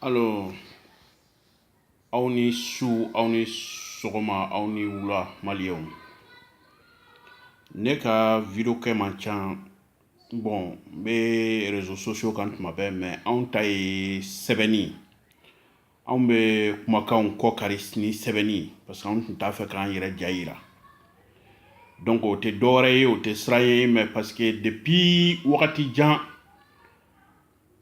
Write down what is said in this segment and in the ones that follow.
Alors, aw ni su aw ni sɔgɔma aw ni wula maliyɛnw ne ka video kɛ man ca bon n bɛ réseaux sociaux kan tuma bɛɛ mais anw ta ye sɛbɛnni anw bɛ kumakanw kɔ kari ni sɛbɛnni parce que anw tun t'a fɛ k'an yɛrɛ ja yira donc o tɛ dɔwɛrɛ ye o tɛ siran ye mais parce que depuis wagati jan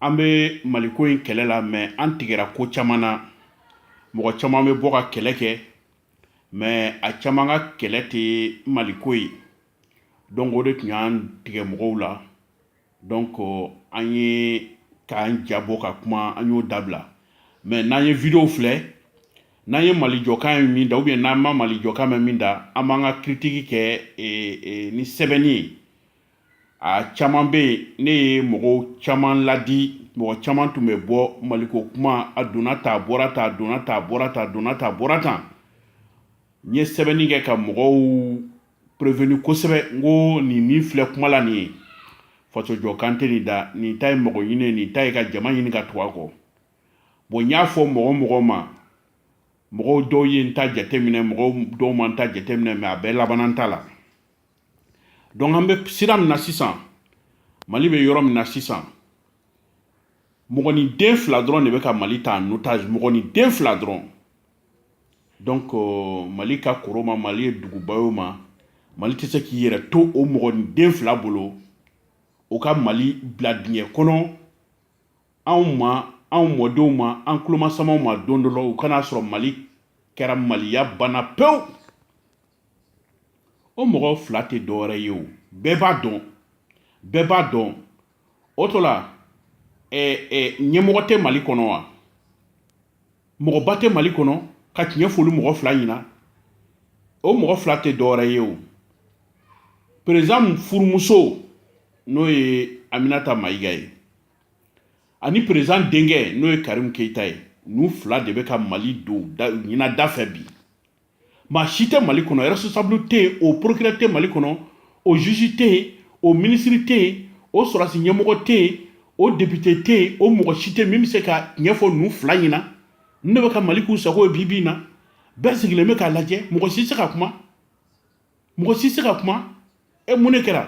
an bɛ maliko in kɛlɛ la mais an tigɛra ko caman na mɔgɔ caman bɛ bɔ ka kɛlɛ kɛ mais a caman ka kɛlɛ tɛ maliko ye donc o de tun y'an tigɛ mɔgɔw la dɔn ko an ye k'an jabɔ ka kuma an y'o dabila mɛ n'an ye videow filɛ n'an ye mali jɔkan ye min da ubiyɛn n'an ma mali jɔkan mɛn min da an b'an ka kiritiki kɛ e, e, ni sɛbɛnni ye a caman bɛ yen ne ye mɔgɔw caman ladi mɔgɔ caman tun bɛ bɔ maliko kuma a donna ta a bɔra ta a donna ta a bɔra ta a donna ta a bɔra tan n ye sɛbɛnni kɛ ka mɔgɔw prévenir kosɛbɛ n ko nin min filɛ kuma la nin ye faso jɔkan tɛ nin da nin ta ye mɔgɔ ɲini nin ta ye ka jama ɲini ka tugu a kɔ bon n y'a fɔ mɔgɔ o mɔgɔ ma mɔgɔw dɔw ye n ta jateminɛ mɔgɔw dɔw ma n ta jateminɛ mais a bɛɛ labanna n ta la donc an bɛ sira min na sisan mali bɛ yɔrɔ min na sisan mɔgɔniden fila dɔrɔn de bɛ ka mali ta en otage mɔgɔniden fila dɔrɔn donc mali ka kɔrɔ o ma mali ye duguba ye o ma mali tɛ se k'i yɛrɛ to o mɔgɔniden fila bolo o ka mali bila dingɛ kɔnɔ anw ma anw mɔdenw ma an tulomasamaw ma don dɔ la u kan'a sɔrɔ mali kɛra maliya banna pewu o mɔgɔ fila tɛ dɔwɛrɛ ye o bɛɛ b'a dɔn bɛɛ b'a dɔn o to la ɲɛmɔgɔ tɛ mali kɔnɔ wa mɔgɔba tɛ mali kɔnɔ ka tiɲɛ fɔ olu mɔgɔ fila ɲɛna o mɔgɔ fila tɛ dɔwɛrɛ ye o président furumuso n'o ye aminata mayiga ye ani président denkɛ n'o ye karimu keyita ye ninnu fila de bɛ ka mali don ɲinada fɛ bi maa si tɛ mali kɔnɔ responsable tɛ yen o procureur tɛ mali kɔnɔ o juge tɛ yen o ministre tɛ yen o sɔrɔdasi ɲɛmɔgɔ tɛ yen o député tɛ yen o mɔgɔ si tɛ min bɛ se ka tiɲɛ fɔ ninnu fila ɲɛna ninnu de bɛ ka mali k'u sago ye bi bi in na bɛɛ sigilen bɛ k'a lajɛ mɔgɔ si tɛ se ka kuma mɔgɔ si tɛ se ka kuma e mun de kɛra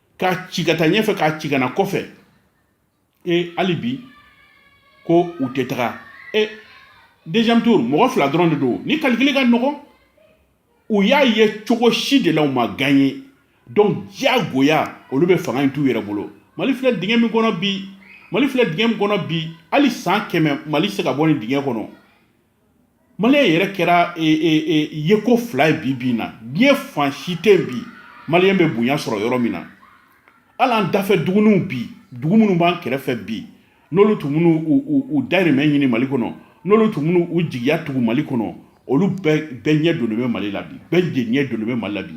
k'a ci ka taa ɲɛfɛ k'a ci ka na kɔfɛ e hali bi ko u tɛ taga e deuxième tour mɔgɔ fila dɔrɔn de don nin kalikili ka nɔgɔn u y'a ye cogo si de la u ma ganye donc diyagoya olu bɛ fanga in t'u yɛrɛ bolo mali filɛ dingɛ min kɔnɔ bi mali filɛ dingɛ min kɔnɔ bi hali san kɛmɛ mali se ka bɔ nin dingɛ kɔnɔ Maliyɛn yɛrɛ kɛra ye ko fila ye bi bi in na diɲɛ fan si tɛ yen bi maliyɛn bɛ bonya sɔrɔ yɔrɔ min na hali an dafɛ duguninw bi dugu minnu b'an kɛrɛfɛ bi n'olu tun bɛ n'u dahirimɛ ɲini mali kɔnɔ n'olu tun bɛ n'u jigiya tugu mali kɔnɔ olu bɛɛ ɲɛ donnen bɛ mali la bi bɛɛ de ɲɛ donnen bɛ mali la bi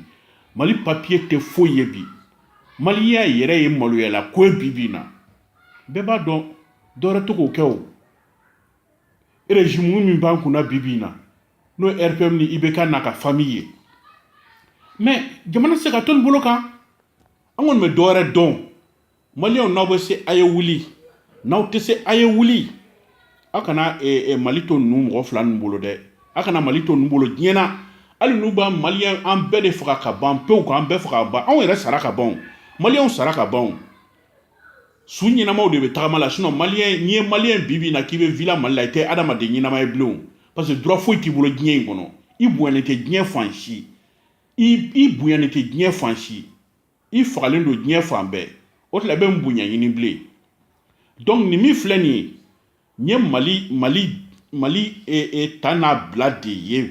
mali papiye tɛ foyi ye bi maliyɛn yɛrɛ ye maloyala ko ye bi bi in na bɛɛ b'a dɔn dɔ wɛrɛ tɛ k'o kɛ o erezimu min b'an kunna bi bi in na n'o ye rpm ni ibk n'a ka fami ye mɛ jamana tɛ se ka to ninnu bolo kan an kɔni bɛ dɔ wɛrɛ dɔn maliyɛnw n'aw bɛ se a ye wuli n'aw tɛ se a ye wuli aw kana eh, eh, mali to ninnu mɔgɔ fila ninnu bolo dɛ aw kana mali to ninnu bolo diɲɛ na hali n'u b'a maliyɛn an bɛɛ de faga ka ban pewu k'an bɛɛ faga ka ban anw yɛrɛ sara ka ban maliyɛnw sara ka ban su ɲɛnamaw de bɛ tagama la sinɔn maliyɛn n'i ye maliyɛn bi bi in na k'i bɛ vila mali la i tɛ adamaden ɲɛnama ye bilen o parce que droit foyi t'i bolo diɲɛ in kɔnɔ i bonyalen tɛ diɲɛ fan si i bonyalen tɛ diɲɛ fan si i fagalen don diɲɛ fan bɛɛ o tila bɛ n bonya ɲini bilen donc nin min filɛ nin ye n ye mali mali mali e, e, ta n'a bila de ye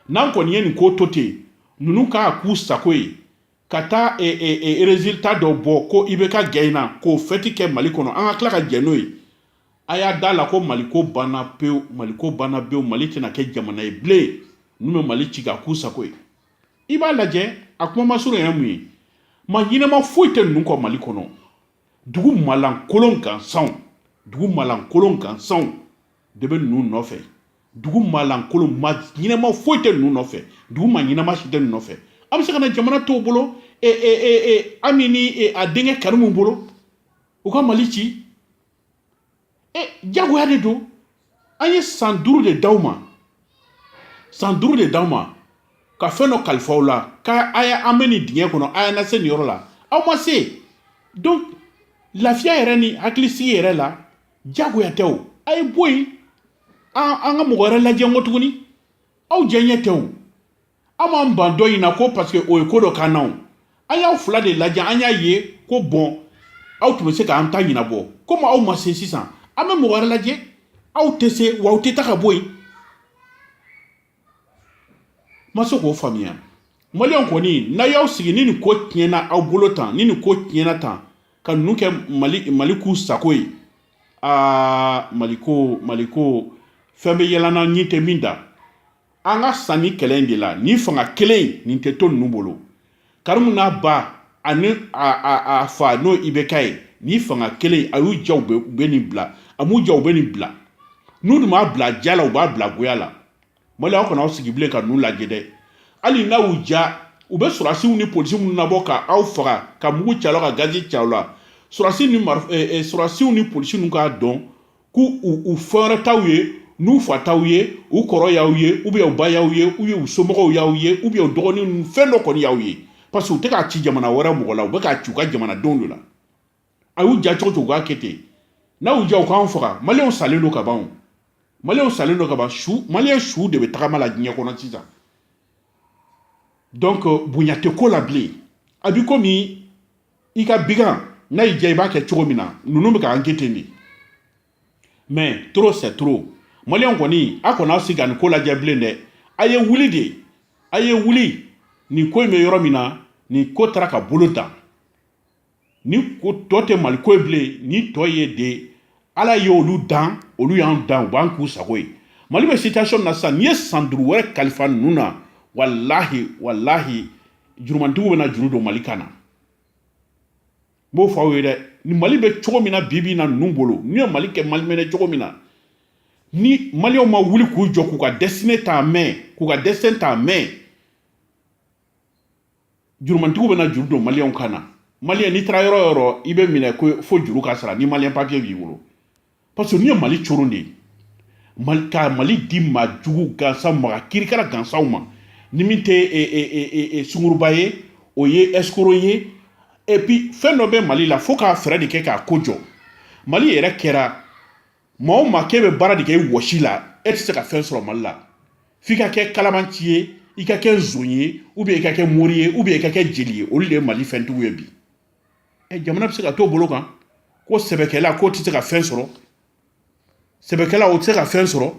n'an kɔni ye nin ko to ten ninnu k'a k'u sago ye ka taa e, e, e, résultat dɔ bɔ ko ibk ganyena k'o fɛti kɛ mali kɔnɔ an ka tila ka jɛn n'o ye a y'a da la ko mali ko banna pewu mali ko banna pewu mali tɛna kɛ jamana ye bilen n'u bɛ mali ci ka k'u sago ye i b'a lajɛ a kuma masurunya mun ye ma ɲɛnama foyi tɛ ninnu kɔ mali kɔnɔ dugu malankolon gansanw dugu malankolon gansanw de bɛ ninnu nɔfɛ dugu maalankolon ma ɲɛnama foyi tɛ ninnu nɔfɛ dugu ma ɲɛnama si tɛ ninnu nɔfɛ an bɛ se k'an ka jamana to u bolo e, e, e, e ami ni e, a denkɛ karimu bolo u ka mali ci e jagoya de don an ye san duuru de d'aw ma san duuru de d'aw ma ka fɛn dɔ kalifa aw la ka a y'an bɔ nin dingɛ kɔnɔ a y'an lase nin yɔrɔ la aw ma se donc lafiya yɛrɛ ni hakilisigi yɛrɛ la jagoya tɛ o a ye bɔ yen an ka mɔgɔ wɛrɛ lajɛ ko tuguni aw jɛ ɲɛ tɛ o an m'an ban dɔ in na ko paseke o ye ko dɔ k'an na o an y'aw fila de lajɛ an y'a ye ko bɔn aw tun bɛ se k'an ta ɲɛnabɔ komi aw ma se sisan an bɛ mɔgɔ wɛrɛ lajɛ aw tɛ se wa aw tɛ taa ka bɔ yen ma se k'o faamuya maliyɛnw kɔni n'a y'aw sigi ni nin ko tiɲɛna aw bolo tan ni nin ko tiɲɛna tan ka ninnu kɛ mali mali k'u sago ye aa mali ko mali ko fɛn bɛ yɛlɛ an na ɲin tɛ min da an ka sa nin kɛlɛ in de la nin fanga kelen nin tɛ to ninnu bolo karimu n'a ba ani a fa n'o ibk ye ni fanga kelen a y'u diya u bɛ nin bila a m'u diya u bɛ nin bila n'u dun b'a bila diya la u b'a bila goya la mali aw kana aw sigi bilen ka ninnu lajɛ dɛ hali n'a y'u diya u bɛ sɔrɔdasiw ni polisi minnu nabɔ ka aw faga ka mugu ci aw la ka gazi ci aw la sɔrɔdasi ni sɔrɔdasiw ni polisi ninnu k'a dɔn k'u u fɛn wɛrɛ t'aw ye n'u fa t'aw ye u kɔrɔ y'aw ye u bɛ u ba y'aw ye u ye u somɔgɔw y'aw ye u bɛ u dɔgɔnin ninnu fɛn dɔ kɔni y'aw ye parce que u tɛ k'a ci jamana wɛrɛ mɔgɔ la u bɛ k'a ci u ka jamanadenw de la a y'u diya cogo cogo u k'a kɛ ten n'a y'u diya u k'an faga maliyɛnw salen don ka ban o maliyɛnw salen don ka ban su maliyɛn su de bɛ tagama la diɲɛ kɔnɔ sisan donc bonya tɛ ko la bilen a bi komi i ka bigan n'a y'i diya i b'a kɛ cogo min na ninnu bɛ k'an kɛ ten de mais trop c'est trop maliyɛnw kɔni a kana aw sigi ka nin ko lajɛ bilen dɛ a ye wuli de a ye wuli nin ko in bɛ yɔrɔ min na nin ko taara ka bolo dan nin ko tɔ tɛ mali ko ye bilen nin tɔ ye de ala ye olu dan olu y'an dan u b'an k'u sago ye mali bɛ situation min na sisan n'i ye san duuru wɛrɛ kalifa ninnu na walahi walahi jurumantigiw bɛna juru don mali kan na n b'o fɔ aw ye dɛ ni mali bɛ cogo min na bi bi in na ninnu bolo n'u ye mali kɛ mali mɛnɛ cogo min na ni maliyɛnw ma wuli k'u jɔ k'u ka destinée ta en main k'u ka destin ta en main jurumantigiw bɛna juru don maliyɛnw kan na maliyɛn n'i taara yɔrɔ yɔrɔ i bɛ minɛ ko fo juru ka sara ni maliyɛn papier b'i bolo parce que n'i ye mali coron de ye mali ka mali di maa jugu gansan maga kirikara gansanw ma ni min tɛ e, e, e, sunguruba ye o ye escroc ye et puis fɛn dɔ bɛ mali la fo k'a fɛɛrɛ de kɛ k'a ko jɔ mali yɛrɛ kɛra maa o maa k'e bɛ baara de kɛ i wɔsi la e tɛ se ka fɛn sɔrɔ mali la f'i ka kɛ kalabanci ye i ka kɛ nson ye ou bien i ka kɛ mori ye ou bien i ka kɛ jeli ye olu de ye mali fɛntigiw ye bi ɛ jamana bɛ se ka t'o bolo kan ko sɛbɛkɛla k'o tɛ se ka fɛn sɔrɔ sɛbɛkɛla o tɛ se ka fɛn sɔrɔ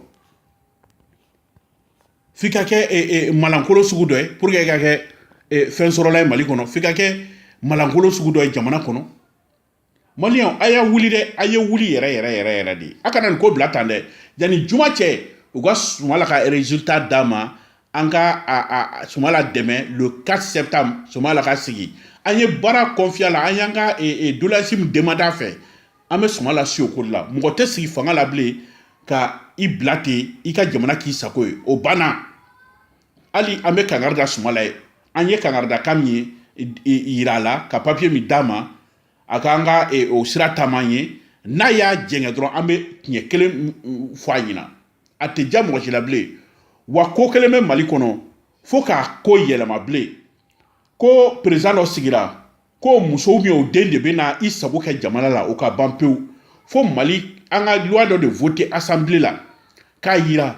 f'i ka kɛ e, e, malankolo sugu dɔ ye pour que i ka kɛ e, fɛn sɔrɔla ye mali kɔnɔ f'i ka kɛ malankolo sugu dɔ ye jamana kɔnɔ maliyɛnw a y'a wuli dɛ a ye wuli yɛrɛ yɛrɛ yɛrɛ yɛrɛ de ye a kana nin ko bila tan dɛ yanni juma cɛ u ka sumayila ka résultat d'a ma an ka sumala dɛmɛ le 4 septembre sumala ka sigi an ye baara kɔnfiye a la an y'an ka e, e, doleyansi min demande a fɛ an bɛ sumala sigi o ko la mɔgɔ tɛ sigi fanga la bilen ka i bila ten i ka jamana k'i sago ye o banna hali an bɛ kangari da sumala ye an ye kangari da kan min ye yira a la ka papiye min d'a ma a kan ka e, o sira taama ye n'a y'a jɛngɛ dɔrɔn an bɛ tiɲɛ kelen fɔ a ɲɛna a tɛ ja mɔgɔ si la bilen wa ko kelen bɛ mali kɔnɔ fo k'a ko yɛlɛma bilen ko perezan dɔ sigira k'o muso ubiyɛn o den de bɛ na i sago kɛ jamana la o ka ban pewu fo mali an ka luwa dɔ de vote asanbile la k'a yira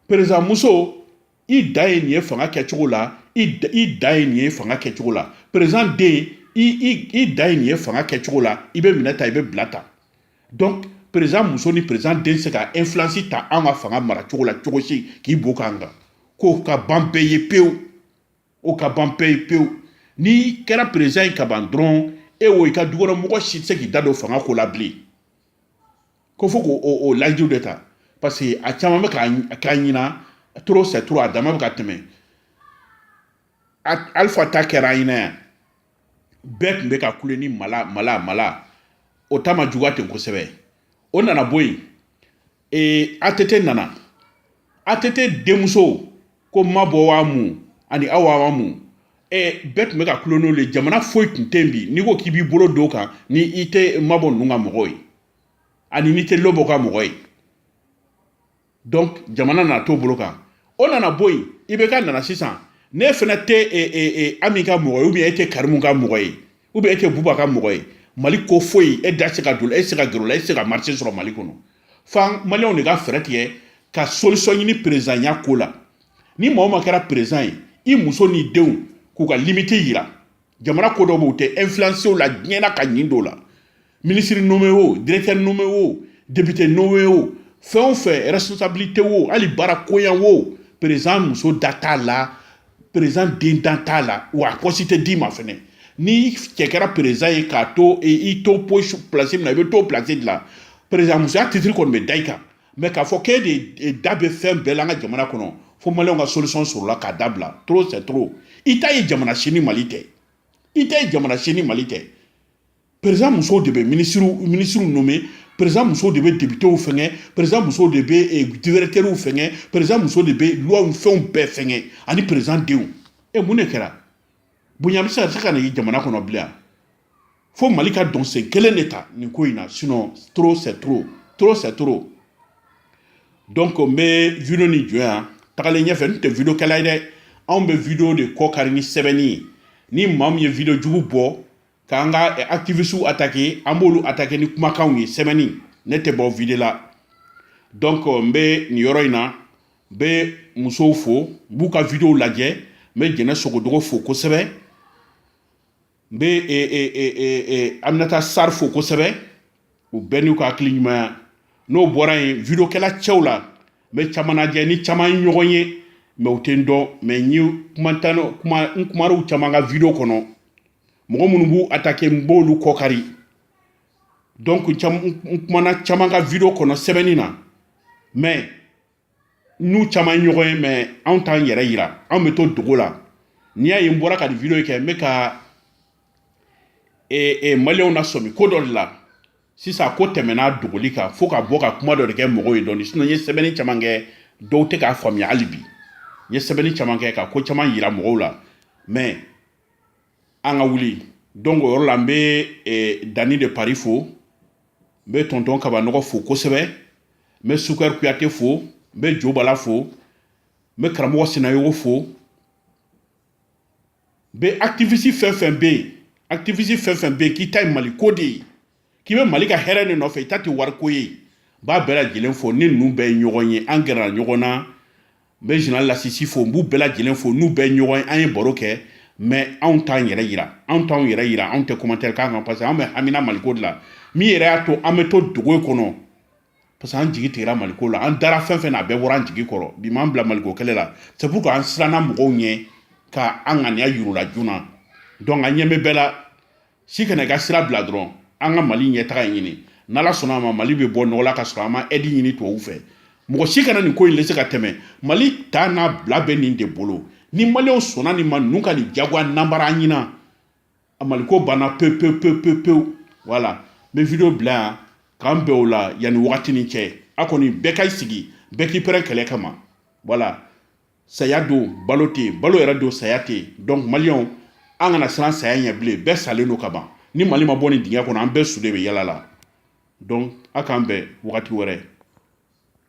perezan muso i da ye nin ye fanga kɛcogo la i da ye nin ye fanga kɛcogo la perezan den i da ye nin ye fanga kɛcogo la i bɛ minɛ ta i bɛ bila ta donc perezan muso ni perezan den se ka influence ta an ka fanga mara cogo la cogo si k'i bo k'an kan k'o ka ban bɛɛ ye pewu o ka ban bɛɛ ye pewu n'i kɛra perezan ye ka ban dɔrɔn e wo i ka dukɔnɔmɔgɔ si tɛ se k'i da don fanga ko la bilen ko fo k'o layidu de ta parce que a caman bɛ k'a ɲina trop c'est trop a dama bɛ ka tɛmɛ alifa ta kɛra an ɲɛna yan bɛɛ tun bɛ ka kule ni mala mala mala o ta ma juguya ten kosɛbɛ o nana bɔ yen ee atete nana atete denmuso ko mabɔ wa mun ani awa wa mun ee bɛɛ tun bɛ ka kule n'olu ye jamana foyi tun tɛ yen bi n'i ko k'i b'i bolo don kan ni i tɛ mabɔ ninnu ka mɔgɔ ye ani n'i tɛ lobɔ ka mɔgɔ ye donc jamana nana t'o bolo kan o nana bɔ yen ibeka nana sisan n'e fana tɛ e, e, e, ami ka mɔgɔ ye ubiyɛn e tɛ karimu ka mɔgɔ ye ubiyɛn e tɛ buba ka mɔgɔ ye mali ko foyi e da se ka don e se ka gɛrɛ a la e se ka marise sɔrɔ mali kɔnɔ f'an maliyɛnw de ka fɛɛrɛ tigɛ ka solisɔn ɲini perezanya ko la ni maa o maa kɛra perezan ye i muso n'i denw k'u ka limite yira jamana ko dɔ b'u tɛ influence o la diɲɛna ka ɲin dɔw la minisiri nome o directeur nome o député nome o fɛn o fɛn responsabilité o hali baara koyan o président muso da t'a la président den da t'a la wa a poste tɛ d'i ma fɛnɛ ni cɛ kɛra président ye k'a to i to place min na i bɛ t'o place de la président musoya titre kɔni bɛ da i kan mɛ k'a fɔ k'e de da bɛ fɛn bɛɛ la an ka jamana kɔnɔ fo maliyɛnw ka solution sɔrɔ a la k'a dabila trop c'est trop i t'a ye jamana si ni mali tɛ i t'a ye jamana si ni mali tɛ perezan musow de bɛ minisiriw minisiriw nome perezan musow de bɛ depitew fɛngɛ perezan musow de bɛ eh, dirɛkitɛriw fɛngɛ perezan musow de bɛ luwaw fɛnw bɛɛ fɛngɛ ani perezan denw e mun de kɛra bonya bɛ se ka se ka na ye jamana kɔnɔ bilen fo mali ka dɔnsen kelen de ta nin ko in na sinon trop c'est trop trop c'est trop donc n bɛ video ni jɔ yan tagalen ɲɛfɛ n tɛ video kɛla ye dɛ anw bɛ video de kɔkari ni sɛbɛnni ye ni maa min ye video jugu bɔ k'an ka eh, activistew attaquer an b'olu attaquer ni kumakanw ye sɛbɛnni ne tɛ bɔ video la donc n bɛ nin yɔrɔ in na n bɛ musow fo n b'u ka videow lajɛ n bɛ jɛnɛ sogodogo fo kosɛbɛ n bɛ e, e, e, aminata sarr fo kosɛbɛ u bɛɛ n'u ka hakili ɲumanya n'o bɔra yen video kɛla cɛw la n bɛ caman lajɛ ni caman ye ɲɔgɔn ye mais u tɛ n dɔn mais n ye kuma n kumar'u caman ka video kɔnɔ mɔgɔ minnu b'u attaquer n b'olu kɔkari donc n kumana caman ka video kɔnɔ sɛbɛnni na mais n'u caman ye ɲɔgɔn ye mais anw t'an yɛrɛ yira anw bɛ to dogo la n'i y'a ye n bɔra ka nin video kɛ n bɛ ka maliyɛnw nasɔmi ko dɔ de la sisan ko tɛmɛna dogoli kan fo ka bɔ ka kuma dɔ de kɛ mɔgɔw ye dɔɔni sinon n ye sɛbɛnni caman kɛ dɔw tɛ k'a faamuya hali bi n ye sɛbɛnni caman kɛ ka ko caman yira mɔgɔw la mais an ka wuli donc o yɔrɔ la n bɛ dani de paris fo n bɛ tonton kabanɔgɔ fo kosɛbɛ n bɛ sukɛri kuyate fo n bɛ jo bala fo n bɛ karamɔgɔ sinayogo fo n bɛ activiste fɛn fɛn bɛ yen activiste fɛn fɛn bɛ yen k'i ta ye mali ko de ye k'i bɛ mali ka hɛrɛ de nɔfɛ i ta tɛ wariko ye n b'a bɛɛ lajɛlen fo ni ninnu bɛɛ ye ɲɔgɔn ye an gɛrɛla ɲɔgɔn na n bɛ général lasisi fo n b'u bɛɛ lajɛlen fo n'u bɛɛ ye ɲɔgɔn ye an ye baro kɛ mais anw t'an yɛrɛ yira anw t'anw yɛrɛ yira anw tɛ commentaire k'an kan parce que an bɛ hamina maliko de la min yɛrɛ y'a to an bɛ to dogo kɔnɔ parce que an jigi tigɛra maliko la an dara fɛn fɛn na a bɛɛ bɔra an jigi kɔrɔ bi m'an bila maliko kɛlɛ la c'est pour que an siranna mɔgɔw ɲɛ ka an ŋaniya yir'u la joona donc an ɲɛ bɛ bɛɛ la si kana i ka sira bila dɔrɔn an ka mali ɲɛtaga ɲini n'ala sɔnna a ma mali bɛ bɔ nɔgɔ la ka sɔrɔ an ma aide ɲini tubabu fɛ mɔgɔ si kana nin ko in laisser ka tɛmɛ mali ta n'a bila bɛ nin de bolo ni maliyɛnw sɔnna nin ma ninnu ka nin jagoya nanbara an ɲinan a maliko banna pewu pewu pewu pewu pewu voilà n bɛ video bila yan k'an bɛn o la yanni wagati ni cɛ a kɔni bɛɛ ka i sigi bɛɛ k'i prêt kɛlɛ kama voilà saya don balo tɛ yen balo yɛrɛ don saya tɛ yen donc maliyɛnw an kana siran saya ɲɛ bilen bɛɛ salen don ka ban ni mali ma bɔ nin dingɛ kɔnɔ an bɛɛ su de bɛ yala la donc a k'an bɛn wagati wɛrɛ